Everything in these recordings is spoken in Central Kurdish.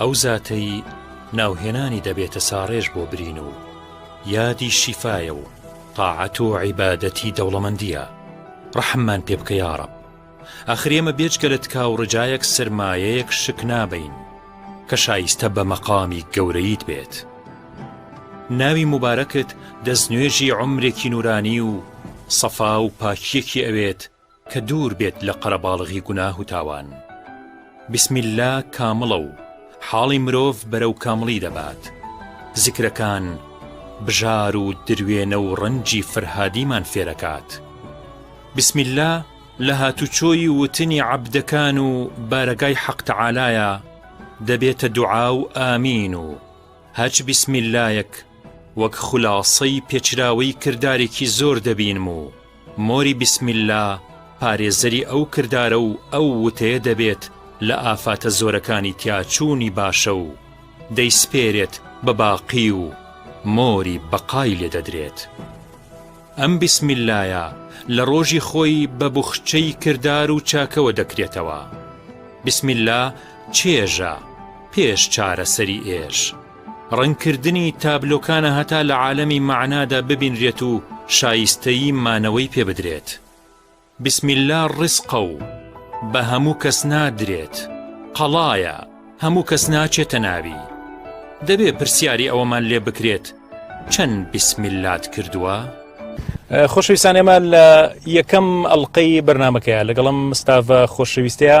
ئەو زاتەی ناوهێنانی دەبێتە ساڕێژ بۆ برین و یادی شیفایە و تاعەت و عیبادەتی دەوڵەمەندیە ڕەحممان پێ بکە یاڕەب ئاخر ئێمە بێجگە لە تکا و ڕجایەک سرمایەیەک شک نابین کە شایستە بە مەقامی گەورەیت بێت ناوی مبارەکت دەستنوێژی عمرێکی نورانی و سەفا و پاکیەکی ئەوێت کە دوور بێت لە قەرەباڵغی گوناه و تاوان. بسم اللە کامڵە و حاڵی مرۆڤ بەرەو کامڵی دەبات. زیکرەکان بژار و دروێنە و ڕەنجی فرهادیمان فێرەکات. بسم اللە لە هاتوچۆی وتنی عەبدەکان و بارەگای حەق تەعالایە دەبێتە دوعا و ئامین و هەچ بسم اللە یەک وەک خولاسەی پێچراوەی کردارێکی زۆر دەبینم و مۆری بیسمیللا پارێزەری ئەو کردارە و ئەو وتەیە دەبێت لە ئافاتە زۆرەکانی تیاچوونی باشە و دەیسپێرێت بە باقی و مۆری بەقای لێ دەدرێت. ئەم بیسمیللایە لە ڕۆژی خۆی بە بوخچەی کردار و چاکەوە دەکرێتەوە. بیسمیللا چێژە پێش چارەسەری ئێش. ڕەنگکردنی تابلۆکانە هەتا لە عالەمی مەعنادا ببینرێت و شایستەیی مانەوەی پێ بدرێت. بسم اللە ڕزقە و بە هەموو کەس نادرێت، قەڵایە، هەموو کەس ناچێتە ناوی. دەبێ پرسیاری ئەوەمان لێ بکرێت چەند بسم اللەت کردووە؟ خۆشەویستان ئێمە لە یەکەم ئەڵلقەی بەرنمەکەیە لەگەڵم مستاڤە خۆشەویستەیە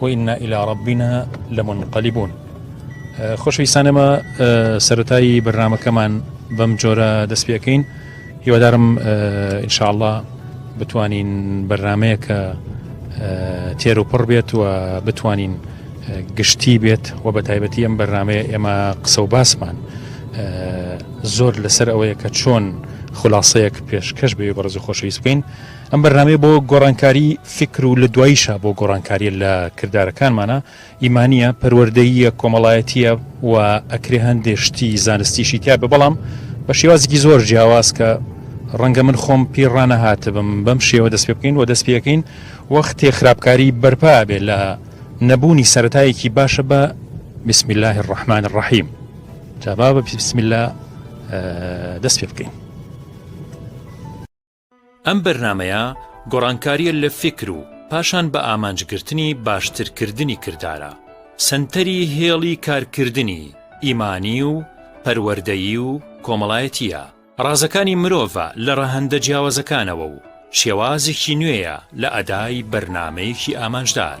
وإنا إلی ربنا لمنقلبون خۆشەویستانەمە سەرەتایی بەرنمەکەمان بەم جۆرە دەست پێەکەین هیوادارم ئینشاءله بتوانین بەرنمەیە کە تێر و پڕ بێت و بتوانین گشتی بێت و بە تایبەتی ئەم بەرنمەیە ئێمە قسە و باسمان زۆر لەسەر ئەوەیە کە چۆن خلاصەیەک پێشکەش بێ بەڕز خۆشەویست بکەین ئەم بەرنامەیە بۆ گۆڕانکاری فیکر و لە دواییشە بۆ گۆڕانکاریە لە کردارەکانمانە ئیمانە پەروەردەییە کۆمەڵایەتیە و ئەکرێ هەندێ شتی زانستیشی تیا بە بەڵام بە شێوازێکی زۆر جیاواز کە ڕەنگە من خۆم پیڕانە هاتبم بەم شێوە دەست پێ بکەین و دەست پێەکەین وەختێ خراپکاری بەرپا بێ لە نەبوونی سەتایەکی باشە بە بسم الله الرحمن الرحیم جابا بە بسم الله دەست پێ بکەین ئەم بەرنامەیە گۆڕانکاریە لە فیکر و پاشان بە ئامانج گرتنی باشتر کردنی کردارە سەنتەری هێڵی کارکردنی ئیمانی و پەروەردەیی و کۆمەڵایەتیە ڕازەکانی مرۆڤە لە ڕەهەندە جیاوازەکانەوە و شێوازێکی نوێیە لە ئەدای بەرنمەیەکی ئامانجدار.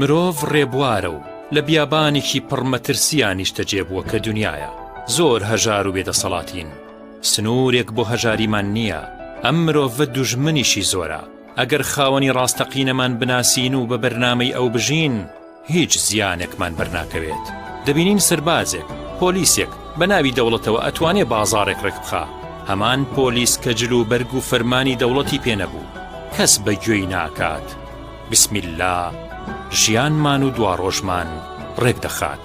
مرۆڤ ڕێبوارە و لە بیابانێکی پڕ مەترسییا نیشتەجێ بووە کە دنیاە زۆر هەژار و بێدەسەڵاتین سنوورێک بۆ هەژاریمان نییە ئەم مرۆڤە دوژمنیشی زۆرە ئەگەر خاوەنی ڕاستەقینەمان بناسین و بە بەرنامەی ئەو بژین، هیچ زیانێکمان بەرناکەوێت. دەبینین سەربازێک، پۆلیسێک، بە ناوی دەوڵەتەوە ئەتوانێ بازاڕێک ڕێکبخا، هەمان پۆلیس کە جل و بەرگ و فەرمانی دەوڵەتی پێ نەبوو، کەس بە گوێی ناکات، بسم اللە ژیانمان و دواڕۆژمان ڕێکدەخات.